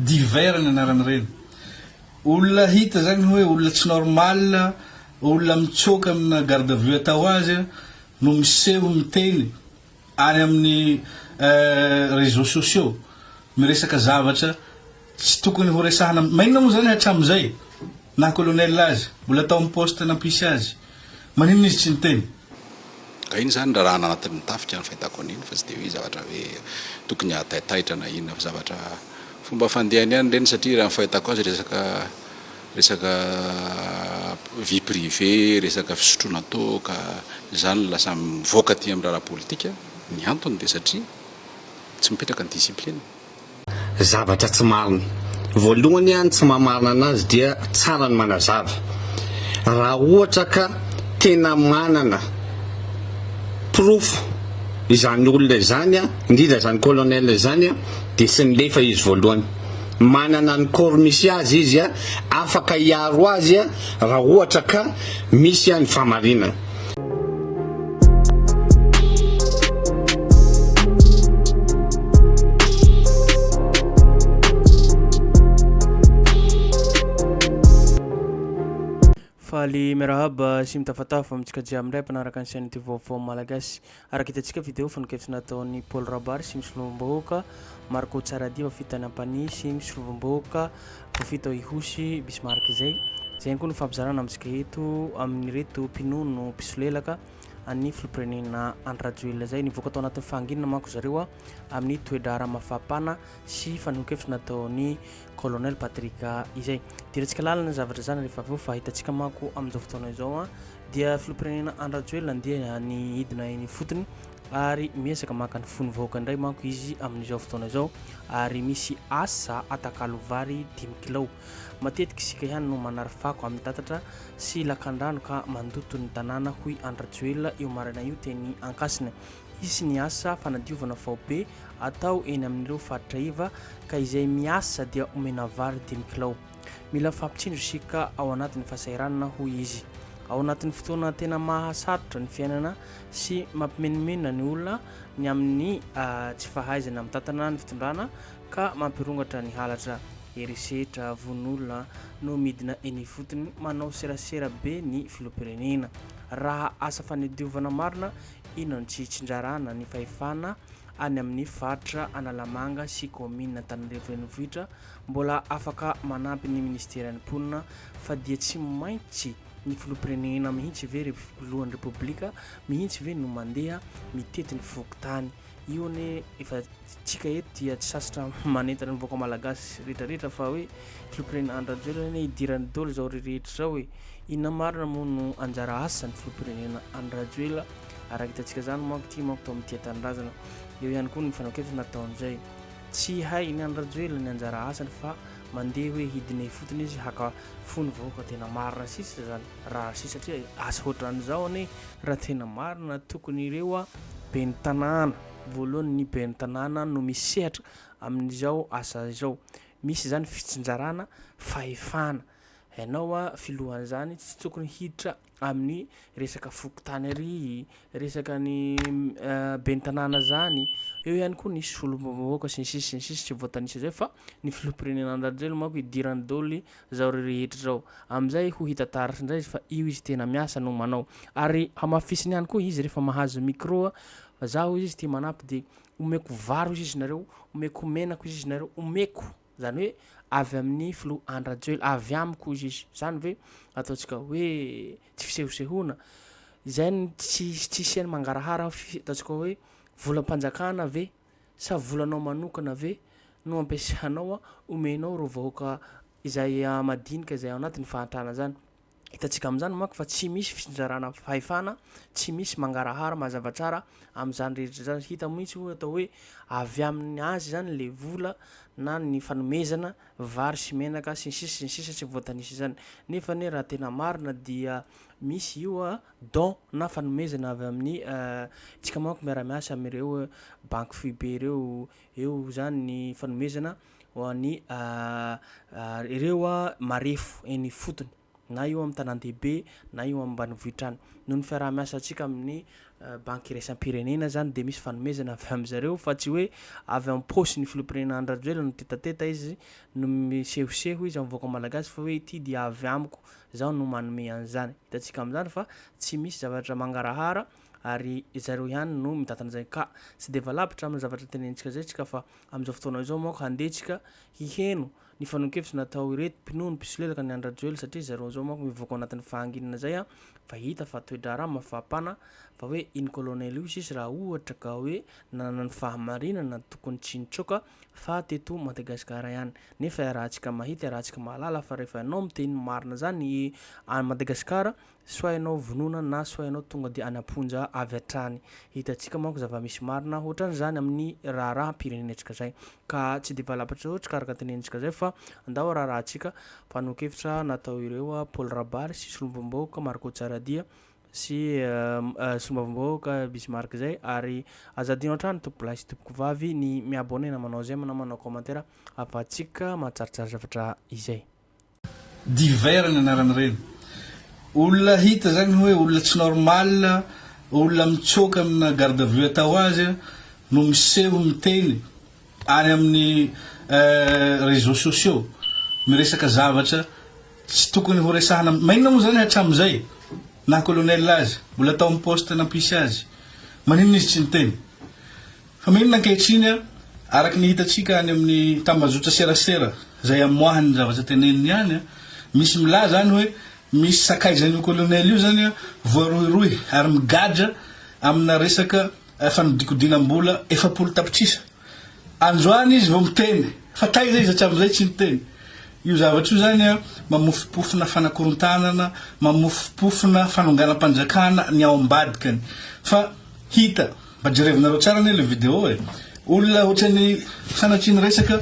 Divers ny anaran'ireny olona hita zany hoe olona tsy normal, olona mitsoaka amina garde à vue atao azy no miseho miteny any amin'ny réseaux sociaux miresaka zavatra tsy tokony horesahana, maninona moa zany hatramin'izay? Na colonel aza, mbola tao amin'ny poste nampisy azy, maninona izy tsy niteny? Ka iny izany raharaha anatin'ny tafika no fahitako an'iny fa tsy dia hoe zavatra hoe tokony hahataitaitra na inona fa zavatra fomba fandehany ihany ireny satria raha ny fahitako azy resaka resaka vie privée, resaka fisotroana toaka, izany no lasa mivoaka aty amin'ny raharaha politika, ny antony dia satria tsy mipetraka ny discipline. zavatra tsy marina. Voalohany an tsy maha marina anazy dia tsara ny manazava. Raha ohatra ka tena manana porofo izany olona izany an, indrindra izany colonel izany an, dia tsy milefa izy voalohany. Manana ny corps misy azy izy an, afaka hiaro azy an raha ohatra ka misy an ny fahamarinana. Faly miarahaba sy mitafatafa amintsika jiaby indray mpanaraka ny chaîne ity vaovao malagasy Araka hitantsika video fanenkevitra nataon'i Paul Rabary sy ny Solombom-bahoaka Marco Tsaradiva fito tany Ampanihy sy ny Solombom-bahoaka Profita ao Ihosy Bismarck izay. Izay ihany koa no fampizarana amintsika eto amin'ireto mpinono mpisolelaka an'ny Filoham-pirenena Andry Rajoelina izay. Nivoaka tao anatin'ny fahanginana manko zareo amin'ny toe-draharaha mafapana sy fanehoan-kevitra nataon'i Colonel Patrick izay. Deraintsika lalina ny zavatra zany rehefa avy eo fa hitantsika manko amin'izao fotoana izao dia filoham-pirenena Andry Rajoelina andeha any hidina eny ifotony ary miezaka maka ny fon'ny vahoaka indray manko izy amin'izao fotoana izao ary misy asa atakalo vary dimy kilao matetika isika ihany no manary fako amin'ny tatatra sy lakandrano ka mandoto ny tanàna hoy Andry Rajoelina io maraina io teny Ankasina hisy ny asa fanadiovana faobe atao eny amin'ireo faritra iva ka izay miasa dia omena vary dimy kilao Mila fampitsindrosika ao anatin'ny fahasahiranana, hoy izy. Ao anatin'ny fotoana tena mahasarotra ny fiainana sy mampimenomenona ny olona ny amin'ny tsy fahaizana mitantana ny fitondrana ka mampirongatra ny halatra, herisetra, vono-olona no midina eny ifotony, manao serasera be ny filoham-pirenena. Raha asa fanadiovana marina, inona no tsy hitsinjarana ny fahefana any amin'ny faritra Analamanga sy kaominina Antananarivo Renivohitra Mbola afaka manampy ny Ministeran'ny Mponina fa dia tsy maintsy ny Filoham-pirenena mihitsy ve ry Filohan'ny Repoblika mihitsy ve no mandeha mitety ny fokontany? Io anie efa tsika eto dia tsy sasatra manentana ny vahoaka Malagasy rehetra rehetra fa hoe Filoham-pirenena Andry Rajoelina anie idirany dolo izao rehetra izao e! Inona marina moa no anjara asan'ny Filoham-pirenena Andry Rajoelina araka hitantsika izany manko ity manko tao amin'ny Tia Tanindrazana eo ihany koa ny fanaokevitra nataon'izay Tsy hainy any Rajoelina ny anjara asany fa mandeha hoe hidine fotony izy haka fo ny vahoaka tena marina sisa zany raha sisa satria asa otrany zao anie raha tena marina tokony ireo ben'ny tanàna voalohany ny ben'ny tanàna no misehatra amin'izao asa izao misy zany fitsinjarana fahefana ianao filohan'izany tsy tokony hiditra amin'ny resaka fokontany ary resaka ny ben'ny tanàna zany, eo ihany koa nisy solombavambahoaka sy ny sisa sy ny sisa tsy voatanisa zay fa ny filoham-pirenena Andry Rajoelina manko hidiran'ny daholo zao rehetra zao, amin'izay ho hita taratra indray izy fa io izy tena miasa no manao ary hamafisiny ihany koa izy rehefa mahazo micro fa za hoy izy ity manampy de omeko vary hoy izy nareo, omeko menaka hoy izy nareo, omeko. Izany hoe avy amin'ny filoha Andry Rajoelina, avy amiko hoy izy. Izany ve ataontsika hoe tsy fisehosehoana? Izay no tsy tsy hisian'ny mangarahara fi- ataontsika hoe volam-panjakana ve sa volanao manokana ve no ampiasanao, omenao ireo vahoaka izay ah, madinika izay ao anatin'ny fahantrana izany. Hitantsika amin'izany manko fa tsy misy fitsinjarana fahefana, tsy misy mangarahara mazava tsara amin'izany rehetra izany. Hita mihitsy hoe atao hoe avy amin'ny azy izany le vola na ny fanomezana vary sy menaka sy ny sisa sy ny sisa tsy voatanisa izany. Nefa anie raha tena marina dia misy io don na fanomezana avy amin'ny isika manko miara-miasa amin'ireo banky foibe ireo, eo izany ny fanomezana ho an'ny ireo marefo eny ifotony, na eo amin'ny tanàn-dehibe na eo amin'ny ambanivohitra any. Noho ny fiaraha-miasantsika amin'ny banky iraisam-pirenena izany dia misy fanomezana avy amin-dry zareo fa tsy hoe avy amin'ny paosy ny filoham-pirenena Andry Rajoelina no teta-teta izy no misehoseho izy amin'ny vahoaka malagasy fa hoe ity dia avy amiko, izaho no manome an'izany. Hitantsika amin'izany fa tsy misy zavatra mangarahara ary ry zareo ihany no mitantana izay ka tsy dia valavitra amin'ny zavatra tenenitsika izay isika fa Amin'izao fotoana izao manko handeha tsika hiheno ny fanonkevitra natao ireto mpinono mpisolelaka ny an-dRajoelina satria zareo izao manko mivoaka ao anatin'ny fahanginana izay an! fa hita fa toe-draharaha mafampana fa hoe iny colonel io sisa raha ohatra ka hoe nanana ny fahamarinana tokony tsy nitsoaka fa teto Madagasikara ihany nefa iarahantsika mahita iarahantsika mahalala fa rehefa ianao miteny ny marina zany any Madagasikara Sao hainao vonona na sao ianao tonga dia any am-ponja avy hatrany. Hitantsika manko zava-misy marina hoatran'izany amin'ny raharaham-pirenentsika izay. Ka tsy dia valapatra loatra ka araka ny tenentsika izay fa andao haraharahantsika mpanolon-kevitra natao ireo Paul Rabary sy Solombavambahoaka Marco Tsaradia sy Solombavambahoaka Bismarck izay ary aza adino hatrany tompokolahy sy tompokovavy ny mi-abonner na manao j'aime na manao commentaire ahafahantsika mahatsaritrary zavatra izay. Divers ny anaran'ireny olona hita izany hoe olona tsy normal, olona mitsoaka amina garde à vue atao azy no miseho miteny any amin'ny réseaux sociaux miresaka zavatra tsy tokony ho resahana maninona moa izany hatramin'izay naha colonel azy mbola tao amin'ny poste nampisy azy maninona izy tsy niteny Fa maninona ankehitriny a? Araka ny hitantsika any amin'ny tambajotra serasera izay amoahany ny zavatra teneniny ihany a, misy milaza any hoe misy sakaizan'io Colonel io izany a, voarohirohy ary migadra amina resaka fanodinkodinam-bola efapolo tapitrisa. Androany izy vao miteny, fa taiza izy hatramin'izay tsy niteny? Io zavatra io izany a, mamofompofona fanakorontanana, mamofompofona fanonganam-panjakana ny ao ambadikany. Fa hita. Mba jerevinareo tsara anie le video e! Olona otrany sanatria niresaka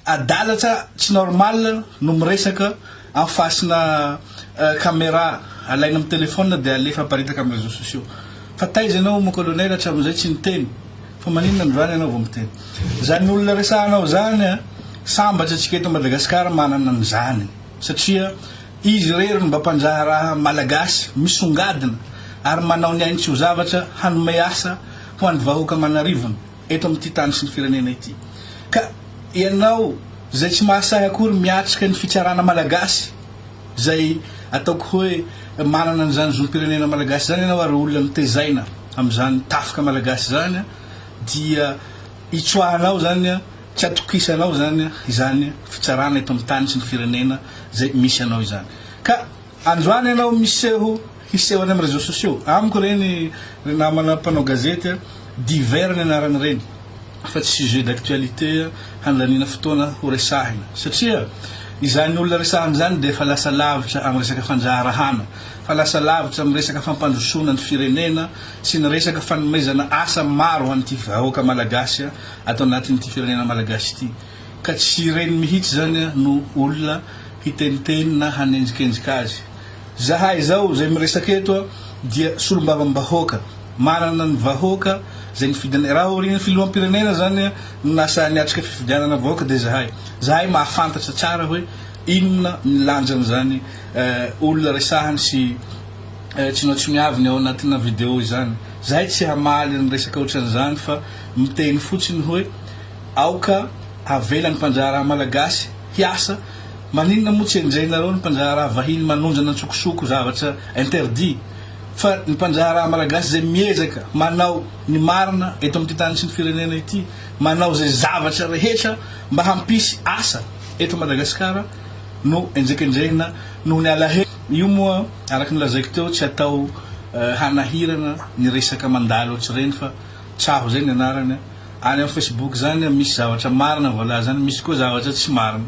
adala tsa tsy normal no miresaka en face-na camera alaina amin'ny telephone dia alefa aparitaka amin'ny réseaux sociaux. Fa taiza ianao mon colonel hatramin'izay tsy niteny fa maninona androany ianao vao miteny. Izany olona resahanao izany sambatra antsika eto Madagascar manana an'izany satria Izy irery no mba mpandraharaha Malagasy misongadina ary manao ny ainy tsy ho zavatra hanome asa ho an'ny vahoaka aman'arivony eto amin'ity tany sy ny firenena ity. Ka ianao izay tsy mahasahy akory miatrika ny fitsarana Malagasy izay ataoko hoe manana an'izany zom-pirenena Malagasy izany ianao ary olona mitezaina amin'izany tafika Malagasy izany dia itsoahanao izany Tsy atokisanao izany izany fitsarana eto amin'ny tany sy ny firenena izay misy anao izany. Ka androany ianao miseho hiseho any amin'ny réseaux sociaux, amiko ireny ry namana mpanao gazety a, divers ny anarany ireny fa tsy sujet d'actualité handaniana fotoana ho resahina satria izany olona resahana izany dia efa lasa lavitra amin'ny resaka fandraharahana fa lasa lavitra amin'ny resaka fampandrosoana ny firenena sy ny resaka fanomezana asa maro ho an'ity vahoaka malagasy ato anatin'ity firenena malagasy ity ka tsy ireny mihitsy zany no olona hiteniteny na hanenjikenzika azy. Zahay zao zay miresaka eto dia solombavambahoaka manana ny vahoaka zay nifidy anay raha aorian'ny filoham-pirenena zany no nasahy niatrika fifidianana vahoaka dia zahay zahay mahafantatra tsara hoe inona ny lanjan'izany olona resahany sy tsinoatsiniaviny ao anatina video izany zahay tsy hamaly ny resaka otran'izany fa miteny fotsiny hoe aoka havela ny mpandraharaha malagasy hiasa, maninona moa tsy enjehinareo ny mpandraharaha vahiny manondrana antsokosoko zavatra interdit fa ny mpandraharaha malagasy izay miezaka manao ny marina eto amin'ity tany sy ny firenena ity manao izay zavatra rehetra mba hampisy asa eto Madagasikara no enjekenjehina noho ny alahelo io moa araka ny lazaiko teo tsy atao hanahirana ny resaka mandalo ohatr'ireny fa Tsaho zay ny anarany a. Any am Facebook zany a misy zavatra marina voalaza any misy koa zavatra tsy marina.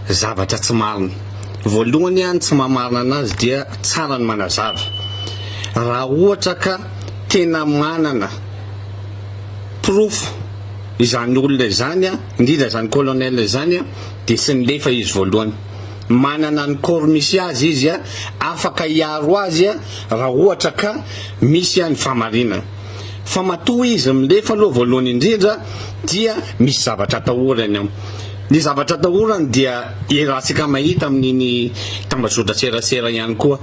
Zavatra tsy marina. Voalohany a ny tsy maha marina anazy dia tsara ny manazava. Raha ohatra ka tena manana porofo izany olona izany a indrindra izany colonel izany a dia tsy nilefa izy voalohany. Manana ny corps misy azy izy, afaka hiaro azy raha ohatra ka misy ny fahamarinana. Fa matoa izy milefa aloha voalohany indrindra dia misy zavatra atahorany ao. Ny zavatra atahorany dia iarahantsika mahita amin'iny tambazotran-tserasera ihany koa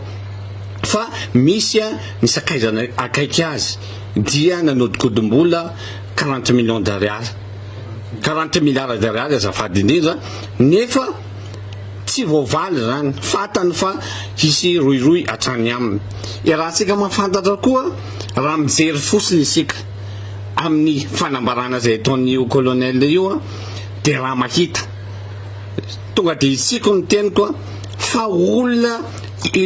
fa misy ny sakaizany akaiky azy dia nanodikodim-bola quarante millions d'ariary, quarante milliards d'ariary azafady indrindra, nefa. tsy voavaly izany, fantany fa hisy rohirohy hatrany aminy. Iarahantsika mahafantatra koa raha mijery fotsiny isika amin'ny fanambarana izay ataon'io colonel io dia raha mahita tonga dia hitsiko ny teniko fa olona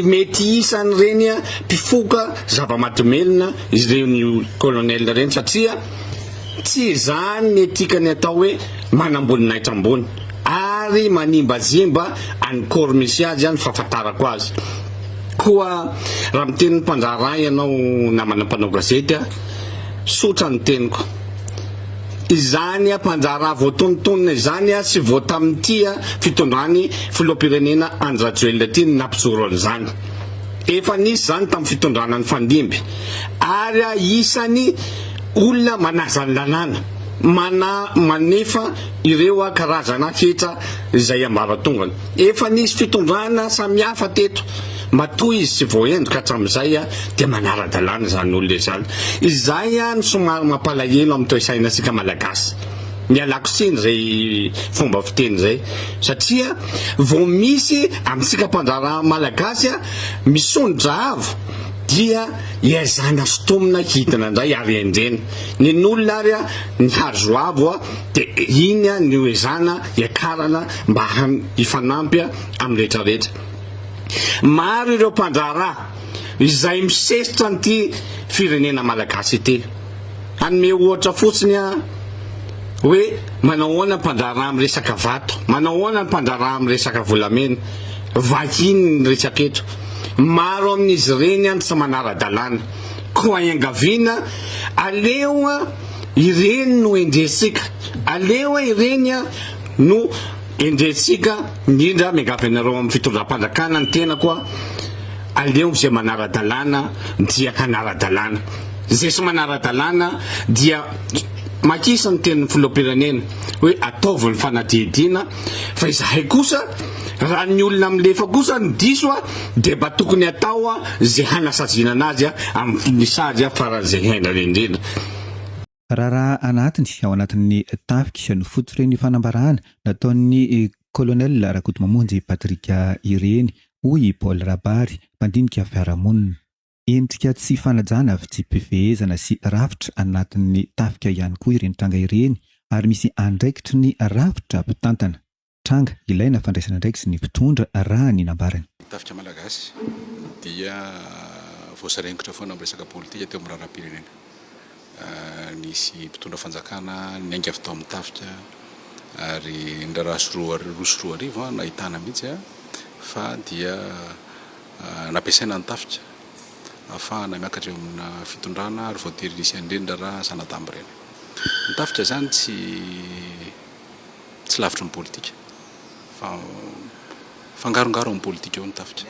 mety hisan'ireny mpifoka zava-mahadomelina ireny colonel ireny satria tsy izany ny etika ny atao hoe manam-boninahitra ambony. ary manimbazimba any corps misy azy any fahafantarako azy. Koa raha miteny mpandraharaha ianao namana mpanao gazety a, sotra ny teniko. Izany a mpandraharaha voatonontonona izany a sy vao tamin'ity a fitondran'i filoham-pirenena Andry Rajoelina ity no nampijoro an'izany. Efa nisy izany tamin'ny fitondrana nifandimby ary a isany olona manaja ny lalàna, mana manefa ireo karazana hetra izay ambaratongany. Efa nisy fitondrana samihafa teto, matoa izy tsy voahendoka hatramin'izay dia manara-dalàna izany olona izany. Izay no somary mampalahelo amin'ny toe-sainantsika Malagasy. Ialako tsiny izay fomba fiteny izay satria vao misy amintsika mpandraharaha Malagasy misondrotra avo dia ezahina sontomina hidina indray ary endrena. Nen'olona ary Ny hazo avo dia iny no hoezahana hiakarana mba hifanampy amin'ny rehetra rehetra. Maro ireo mpandraharaha izay misesitra an'ity firenena Malagasy ity. Hanome ohatra fotsiny aho hoe manao ahoana ny mpandraharaha amin'ny resaka vato, manao ahoana ny mpandraharaha amin'ny resaka volamena. Vahiny no resaka eto. Maro amin'izy ireny tsy manara-dalàna. Koa iangaviana, aleo ireny no endrentsika, aleo ireny no endrentsika indrindra miangavy anareo amin'ny fitondram-panjakana ny tenako, aleo izay manara-dalàna dia hanara-dalàna, izay tsy manara-dalàna dia makisa ny tenin'ny filoham-pirenena hoe ataovy ny fanadihadiana, fa izahay kosa raha ny olona milefa kosa no diso a dia mba tokony hatao a ze hanasaziana anazy a amin'ny fony sazy a faran'izay haindrana indrindra Raharaha anatiny ao anatin'ny tafika no fototr'ireny fanambarana nataon'ny Colonel Rakotomamonjy Patrick ireny, hoy i Paul Rabary, mpandinika fiarahamonina. Endrika tsy fanajana, fitsipifehezana sy rafitra anatin'ny tafika ihany koa ireny tranga ireny ary misy andraikitry ny rafitra mpitantana tranga ilaina fandraisana andraikitra sy ny mpitondra raha ny nambarany. Ny tafika malagasy dia voasaringotra foana amin'ny resaka politika teo amin'ny raharaham-pirenena. Nisy mpitondra fanjakana niainga avy tao amin'ny tafika ary niraharaha sy roa roa sy roa arivo nahitana mihitsy fa dia nampiasaina ny tafika ahafahana miakatra eo amina fitondrana ary voatery nisy an'ireny raharaha zana-damba ireny. Ny tafika izany tsy tsy lavitry ny politika fa mifangarongaro amin'ny politika ao ny tafika.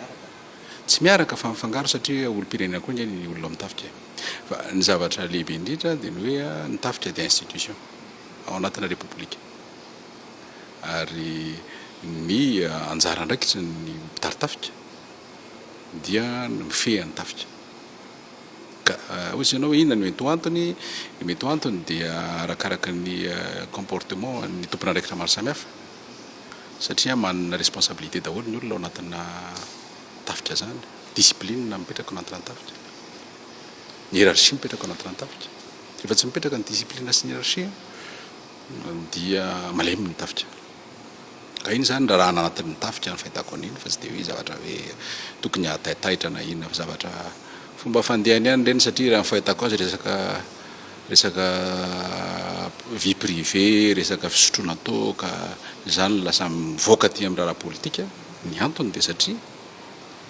Tsy miaraka fa mifangaro satria olom-pirenena koa ange ny olona ao amin'ny tafika e! Fa ny zavatra lehibe indrindra dia ny hoe ny tafika dia institution ao anatina repoblika ary ny anjara andraikitry ny mpitari-tafika dia ny mifehy an'ny tafika. Ka hoy izy ianao hoe inona no mety ho antony? Ny mety ho antony dia arakaraka ny comportement an'ny tompon'andraikitra maro samihafa. satria manana responsabilité daholo ny olona ao anatina tafika zany, discipline mipetraka ao anatina tafika, hiérarchie mipetraka ao anatina tafika, rehefa tsy mipetraka ny discipline sy ny hiérarchie dia malemy ny tafika, ka iny zany rarahana anatin'ny tafika ny fahitako an'iny fa tsy de hoe zavatra hoe tokony hahataitaitra na inona fa zavatra fomba fandehany ihany ireny satria raha ny fahitako azy resaka Resaka vie privée, resaka fisotroana toaka, izany no lasa mivoaka aty amin'ny raharaha politika. Ny antony dia satria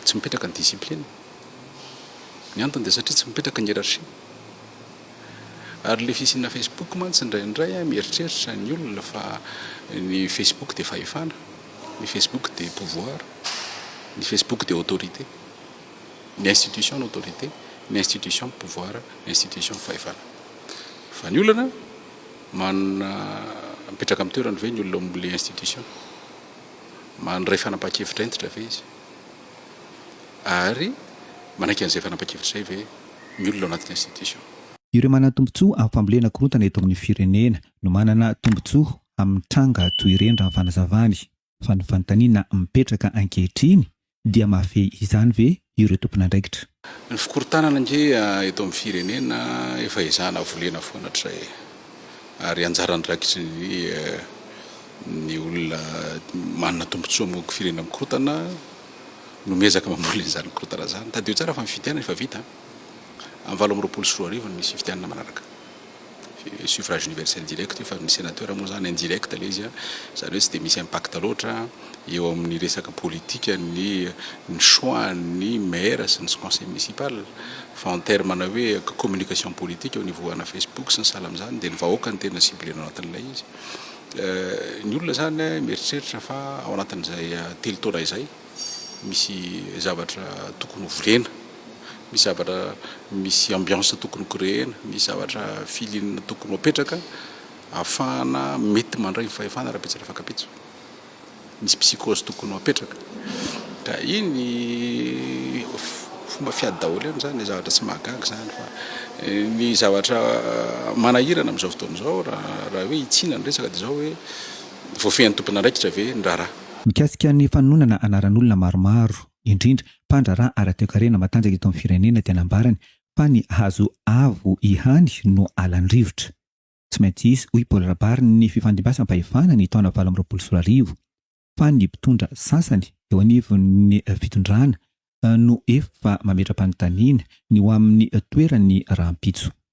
tsy mipetraka ny discipline. Ny antony dia satria tsy mipetraka ny hiérarchie. Ary ilay fisiana Facebook mantsy indraindray mieritreritra ny olona fa ny Facebook dia fahefana, ny Facebook dia pouvoir, ny Facebook dia autorité. ny institution autorité, ny institution pouvoir, ny institution fahefana. Fa ny olana, manana mipetraka amin'ny toerany ve ny olona ao amin'ilay institution? Mandray fanapahan-kevitra hentitra ve izy? Ary manaiky an'izay fanapahan-kevitra izay ve ny olona ao anatin'ny institution? Ireo manana tombontsoa amin'ny fambolena korontana eto amin'ny firenena no manana tombontsoa amin'ny tranga toy ireny raha ny fanazavany. fa ny fanontaniana mipetraka ankehitriny dia mahafehy izany ve ireo tompon'andraikitra? Ny fikorontanana ange eto amin'ny firenena efa ezahana volena foana hatrizay e! ary anjara andraikitry ny ny olona manana tombotsoa amin'ny firenena mikorontana no miezaka mamoly an'izany korontana izany. Tadidio tsara fa ny fifidianana efa vita an! Amin'ny valo amby roapolo sy roa arivo no misy fifidianana manaraka. suffrage universel direct io fa ny senateur moa zany indirect le izy zany hoe tsy dia misy impact loatra eo amin'ny resaka politique ny ny choix ny maire sy ny conseil municipal fa en terme na hoe communication politique au niveau ana Facebook sy ny sahala amin'izany dia ny vahoaka no tena cible-na ao anatin'ilay izy ny olona zany mieritreritra fa ao anatin'izay telo taona izay misy zavatra tokony ho volena, misy zavatra, misy ambiance tokony ho creena, misy zavatra feeling tokony ho apetraka ahafahana mety mandray ny fahefana rahampitso rafakapitso. Misy psychose tokony ho apetraka ka iny fomba fiady daholo eny izany, zavatra tsy mahagaga izany fa ny zavatra manahirana amin'izao fotoana izao raha hoe hitsiana ny resaka dia izao hoe voafehin'ny tompon'andraikitra ve ny raharaha. Mikasika ny fanononana anaran'olona maromaro, indrindra mpandraharaha ara-toekarena matanjaka eto amin'ny firenena dia nambarany fa ny hazo avo ihany no halan'ny rivotra. Tsy maintsy hisy, hoy Paul Rabary, ny fifandimbasan-pahefana ny taona valo amby roapolo sy roa arivo fa ny mpitondra sasany eo anivon'ny fitondrana no efa mametra-panontaniana ny ho amin'ny toerany rahampitso.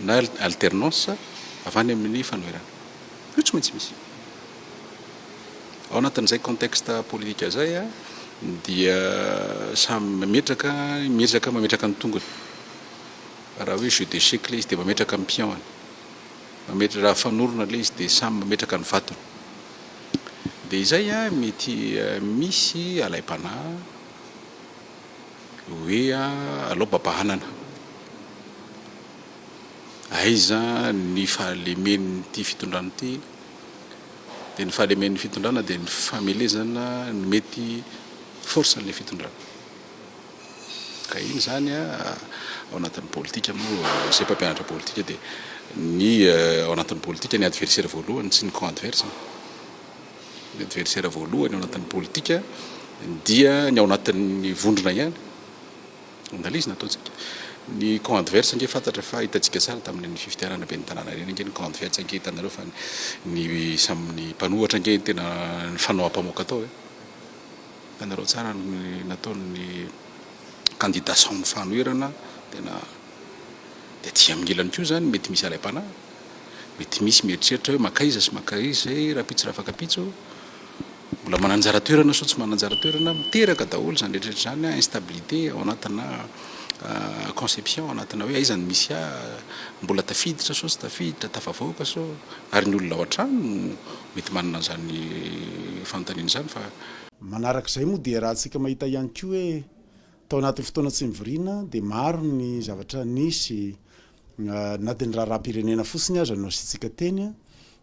na alternance avy any amin'ny fanoherana. Io tsy maintsy misy. Ao anatin'izay contexte politique izay dia samy mametraka, miezaka mametraka ny tongony. Raha hoe jeu d'échec ilay izy dia mametraka ny pion-ny. Mametra- raha fanorona ilay izy dia samy mametraka ny vatony. Dia izay mety misy alaim-panahy. Hoe alao baba hanana. Aiza ny fahalemen'ity fitondrana ity? Dia ny fahalemen'ny fitondrana dia ny famelezana ny mety force an'ilay fitondrana. Ka iny zany a ao anatin'ny politika moa izay mpampianatra politika dia ny ao anatin'ny politika ny adversaire voalohany tsy ny camp adverse. ny adversera voalohany ao anatin'ny politika dia ny ao anatin'ny vondrona ihany, analyse nataontsika, ny camp adverse ange fantatra fa hitantsika sary tamin'iny fifidianana ben'ny tanàna iny ange ny camp adverse ange hitanareo fa ny samy ny mpanohatra ange ny tena nifanao ampamoaka tao e, hitanareo tsara ny nataon'ny kandida samy fanoherana tena. Dia aty amin'ny ilany koa izany mety misy alaim-panahy, mety misy mieritreritra hoe mankaiza sy mankaiza izay rahampitso rafakapitso, mbola mananjara toerana sao tsy mananjara toerana, miteraka daholo izany rehetra rehetra izany instabilité ao anatina conception, ao anatina hoe aiza no misy ahy, mbola tafiditra sao tsy tafiditra, tafavoaka sao, ary ny olona ao an-trano no mety manana an'izany fanontaniana izany fa. Manarak'izay moa dia raha antsika mahita ihany koa hoe Tao anatin'ny fotoana tsy nivoriana dia maro ny zavatra nisy na dia ny raharaham-pirenena fotsiny aza no asiantsika teny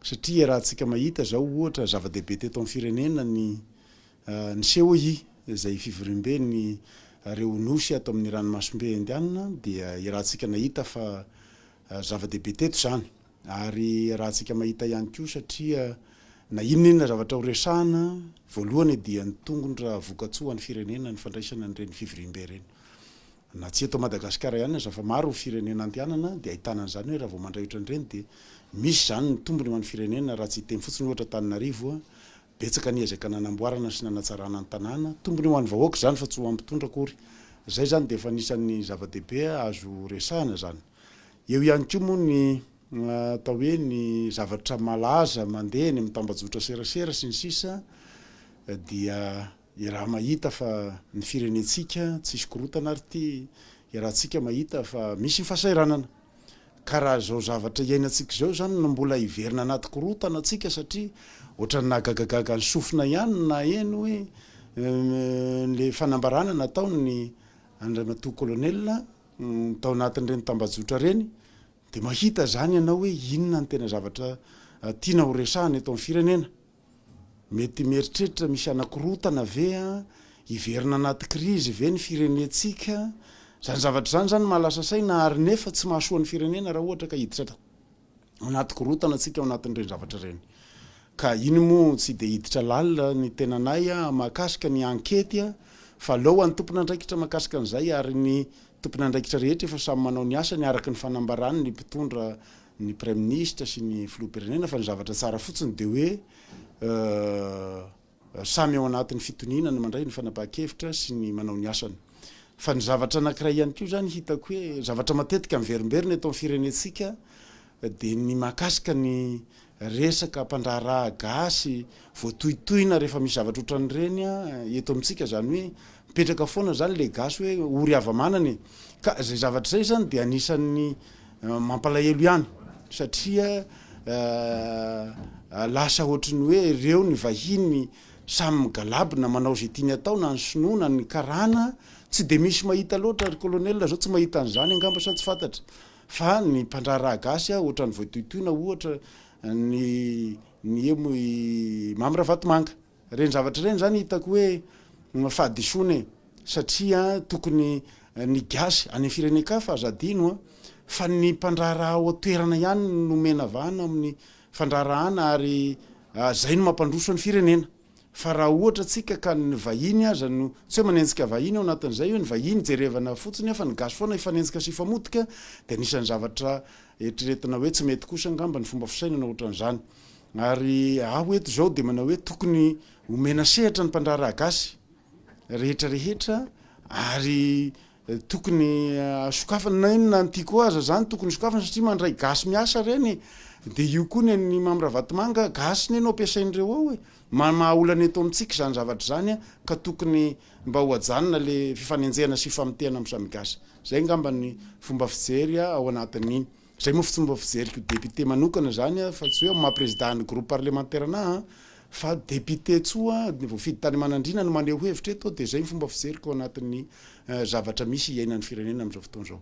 satria iarahantsika mahita izao ohatra zava-dehibe teto amin'ny firenena ny ny COI izay fivoriamben'ny reo nosy ato amin'ny ranomasimbe indianina dia iarahantsika nahita fa zava-dehibe teto izany. Ary rahantsika mahita ihany koa satria na inona inona zavatra horesahana, voalohany dia ny tongony raha vokatsoa ho an'ny firenena ny fandraisana an'ireny fivoriambe ireny. Na tsy eto Madagasikara ihany aza fa maro ny firenena andehanana dia ahitana an'izany hoe raha vao mandray ohatran'ireny dia misy izany ny tombony ho an'ny firenena raha tsy hiteny fotsiny ohatra Antananarivo betsaka ny ezaka nanamboarana sy nanatsarana ny tanàna, tombony ho an'ny vahoaka izany fa tsy ho an'ny mpitondra akory. Izay izany dia efa anisan'ny zava-dehibe azo resahana izany. Eo ihany koa moa ny atao hoe ny zavatra malaza mandeha eny amin'ny tambajotra serasera sy ny sisa dia iaraha mahita fa ny firenentsika tsisy korotana ary ity iarahantsika mahita fa misy ny fahasahiranana ka raha izao zavatra iainantsika izao izany no mbola hiverina anaty korotana tsika satria ohatran'ny nahagagagaga ny sofina ihany ny naheno hoe ny fanambarana nataon'ny Andriamatoa Colonel tao anatin'ireny tambajotra ireny dia mahita izany ianao hoe inona ny tena zavatra tiana ho resahana eto amin'ny firenena. Mety mieritreritra misy hanakorotana ve, hiverina anaty krizy ve ny firenentsika, izany zavatra izany izany mahalasa saina ary nefa tsy mahasoa ny firenena raha ohatra ka hiditra tao. anaty korontana tsika ao anatin'ireny zavatra ireny. Ka iny moa tsy dia hiditra lalina ny tenanay mahakasika ny ankety fa aleo ho an'ny tompon'andraikitra mahakasika an'izay ary ny tompon'andraikitra rehetra efa samy manao ny asany araka ny fanambarany ny mpitondra ny praiminisitra sy ny filoham-pirenena fa ny zavatra tsara fotsiny dia hoe Samy ao anatin'ny fitoniana ny mandray ny fanapahan-kevitra sy ny manao ny asany. Fa ny zavatra anankiray ihany koa izany hitako hoe zavatra matetika miverimberina eto amin'ny firenentsika dia ny mahakasika ny resaka mpandraharaha gasy voatohitohina rehefa misy zavatra ohatran'ireny eto amintsika izany hoe Mipetraka foana zany le gasy hoe ory hava-manana e! Ka zay zavatra zay zany dia anisan'ny mampalahelo ihany satria lasa ohatry ny hoe reo ny vahiny samy migalabona manao ze tiany atao na ny sinoa na ny karana, tsy de misy mahita loatra ry colonel zao tsy mahita an'zany angamba sa tsy fantatra fa ny mpandraharaha gasy ohatry ny voatohitohina ohatra ny ny emo i Mamy Ravatomanga. Ireny zavatra ireny izany hitako hoe fahadisoana e! satria tokony ny gasy any firenen-kafa aza adino fa ny mpandraharaha ao an-toerana ihany no nomena vahana amin'ny fandraharahana ary izay no mampandroso ny firenena fa raha ohatra tsika ka ny vahiny aza no tsy hoe manenjika vahiny ao anatin'izay hoe ny vahiny jerevana fotsiny aho fa ny gasy foana hifanenjika sy hifamotika dia anisan'ny zavatra eritreretina hoe tsy mety kosa angamba ny fomba fisainana ohatran'izany Ary aho eto izao dia manao hoe tokony omena sehatra ny mpandraharaha gasy rehetra rehetra ary tokony sokafana na inona ny tiako aza izany tokony sokafana satria mandray gasy miasa ireny e! dia io koa ny an'i Mamy Ravatomanga gasy ne no ampiasain'ireo ao e! maha olana eto amintsika izany zavatra izany a! ka tokony mba ho ajanona le fifanenjehana sy famotehana amin'ny samy gasy! izay angamba ny fomba fijery ao anatin'ny Zay moa fomba fijeriko député manokana zany a fa tsy hoe amin'ny maha président ny groupe parlementaire anahy a fa député tsoa ny voafidy tany Manandriana no maneho hevitra eto de zay ny fomba fijeriko anatin'ny zavatra misy iainan'ny firenena amin'izao fotoana izao.